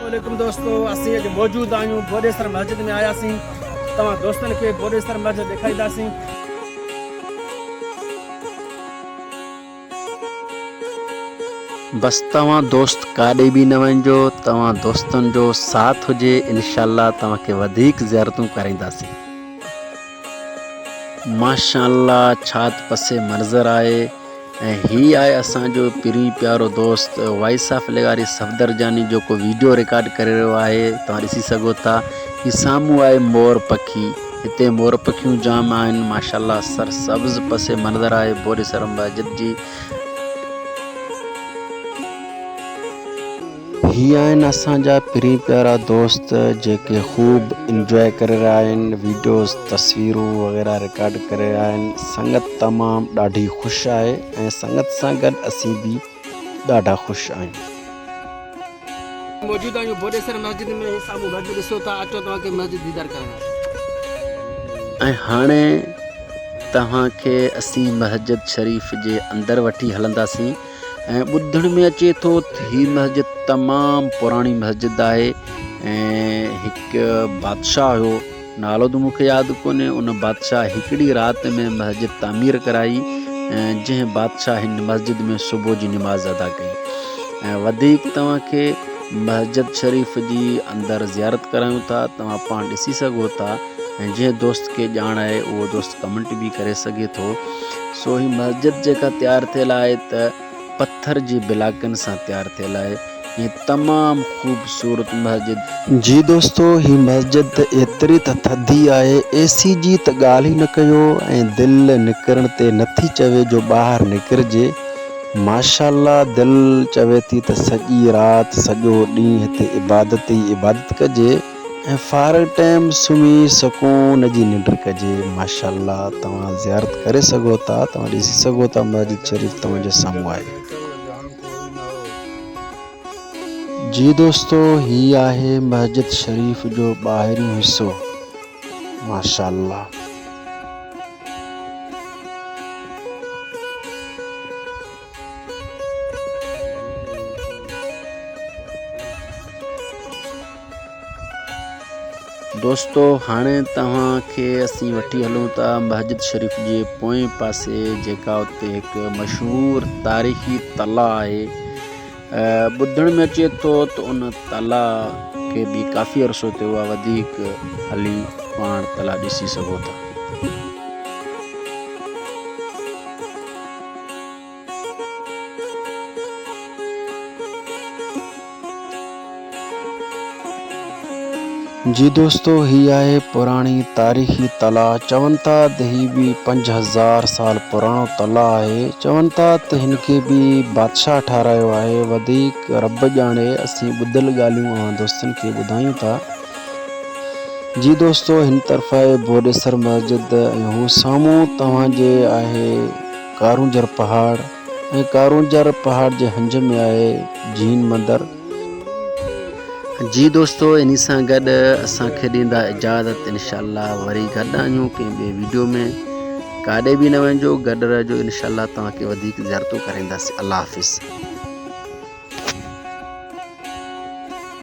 عليڪم دوستو اسين اڄ موجود آهيون بوڏيسر مسجد ۾ آياسين توهان دوستن کي بوڏيسر مسجد ڏيکارينداسين بس توهان دوست ڪاڏي به نه وڃجو توهان دوستن جو ساٿ هجي انشاء الله توهان کي وڌيڪ زيارتون ڪرائينداسين ماشاء الله ڇات پسي منظر آهي ۽ هي آهي اسان جو پرين پيارو دوست وائس آف لغاري صفدر جاني جيڪو ويڊيو رڪارڊ ڪري رهيو آهي توهان ڏسي سگهو ٿا هي سامهون آهي مور پکي هتي مور پکيون جام آهن ماشاء الله سر سبز پس منظر آهي بوري سرم مسجد جي هي آهن اسان جا پرين پيارا دوست جيڪي خوب انجوائي ڪري رهيا آهن ويڊيوز تصويرون وغيره رڪارڊ ڪري رهيا آهن سنگت تمام ڏاڍي خوش آهي ۽ سنگت سان گڏ اسين به ڏاڍا خوش آهيون موجود آهيون بوڏيسر مسجد ۾ هي سامهون گهٽ ڏسو ٿا اچو توهان کي مسجد ديدار ڪرائيان ۽ هاڻي توهان کي اسين مسجد شريف جي اندر وٺي هلنداسين ۽ ٻڌڻ ۾ اچي ٿو تھ ھي مسجد تمام پراڻي مسجد آھي ۽ ھڪ بادشاھ ھيو نالو تھ مون کي ياد ڪونھي ان بادشاھ ھڪڙي رات ۾ مسجد تعمير ڪرائي ۽ جنھن بادشاھ ھن مسجد ۾ صبح جي نماز ادا ڪئي ۽ وڌيڪ توھان کي مسجد شريف جي اندر زيارت ڪرايون ٿا توھان پاڻ ڏسي سگھو ٿا ۽ جنهن دوست کي ڄاڻ آهي اهو دوست ڪمنٽ به ڪري سگهي ٿو سو هي مسجد جيڪا تيار ٿيل آهي ته پٿر جي بلاڪن سان تيار ٿيل آهي ۽ تمام خوبصورت مسجد. جي دوستو هي مسجد ته ايتري ته ٿڌي آهي اي سي جي ته ڳالهه ئي نه ڪيو ۽ دل نڪرڻ تي نٿي چوي جو ٻاهر نڪرجي ماشاءالله دل چوي ٿي ته سڄي رات سڄو ڏينهن هتي عبادت ئي عبادت ڪجي. ۽ فارغ ٽيم سمهي سڪون جي ننڊ ڪجي ماشاءالله توهان زيارت ڪري سگهو ٿا توهان ڏسي سگهو ٿا مسجد شريف توهان جي سامهون آهي. جي دوستو هي آهي مسجد شريف جو ٻاهريون حصو ماشاءالله. دوستو هاڻي توهان کي اسين وٺي هلون ٿا مسجد شريف جي پوئين پاسي جيڪا اتي هڪ مشهور تاريخي تلا آهي ٻڌڻ ۾ اچي ٿو ته ان تلا کي به ڪافي عرصو ٿيو آهي وڌيڪ هلي پاڻ تلا ڏسي سگهو ٿا جي دوستو هي آهي پراڻي تاريخي تلاء چون ٿا ته هي به پنج هزار سال پراڻو تلاء آهي چون ٿا ته هن کي به بادشاهه ٺاهرايو آهي وڌيڪ رب ڄاڻي اسين ٻڌل ڳالهيون اوهان دوستن کي ٻڌايون ٿا جي دوستو هن طرف آهي بوڏيسر مسجد ۽ هو سامهون توهان جي آهي ڪارونجهر پهاڙ ۽ ڪارونجهر پهاڙ جي هنج ۾ آهي جين مندر. جي دوستو انهي سان گڏ اسان کي ڏيندا اجازت انشاء الله وري گڏ آهيون ڪنهن ٻي ويڊيو ۾ ڪاڏي به نه وڃجو گڏ رهجو انشاء الله توهان کي وڌيڪ زيارتون ڪرائينداسين الله حافظ.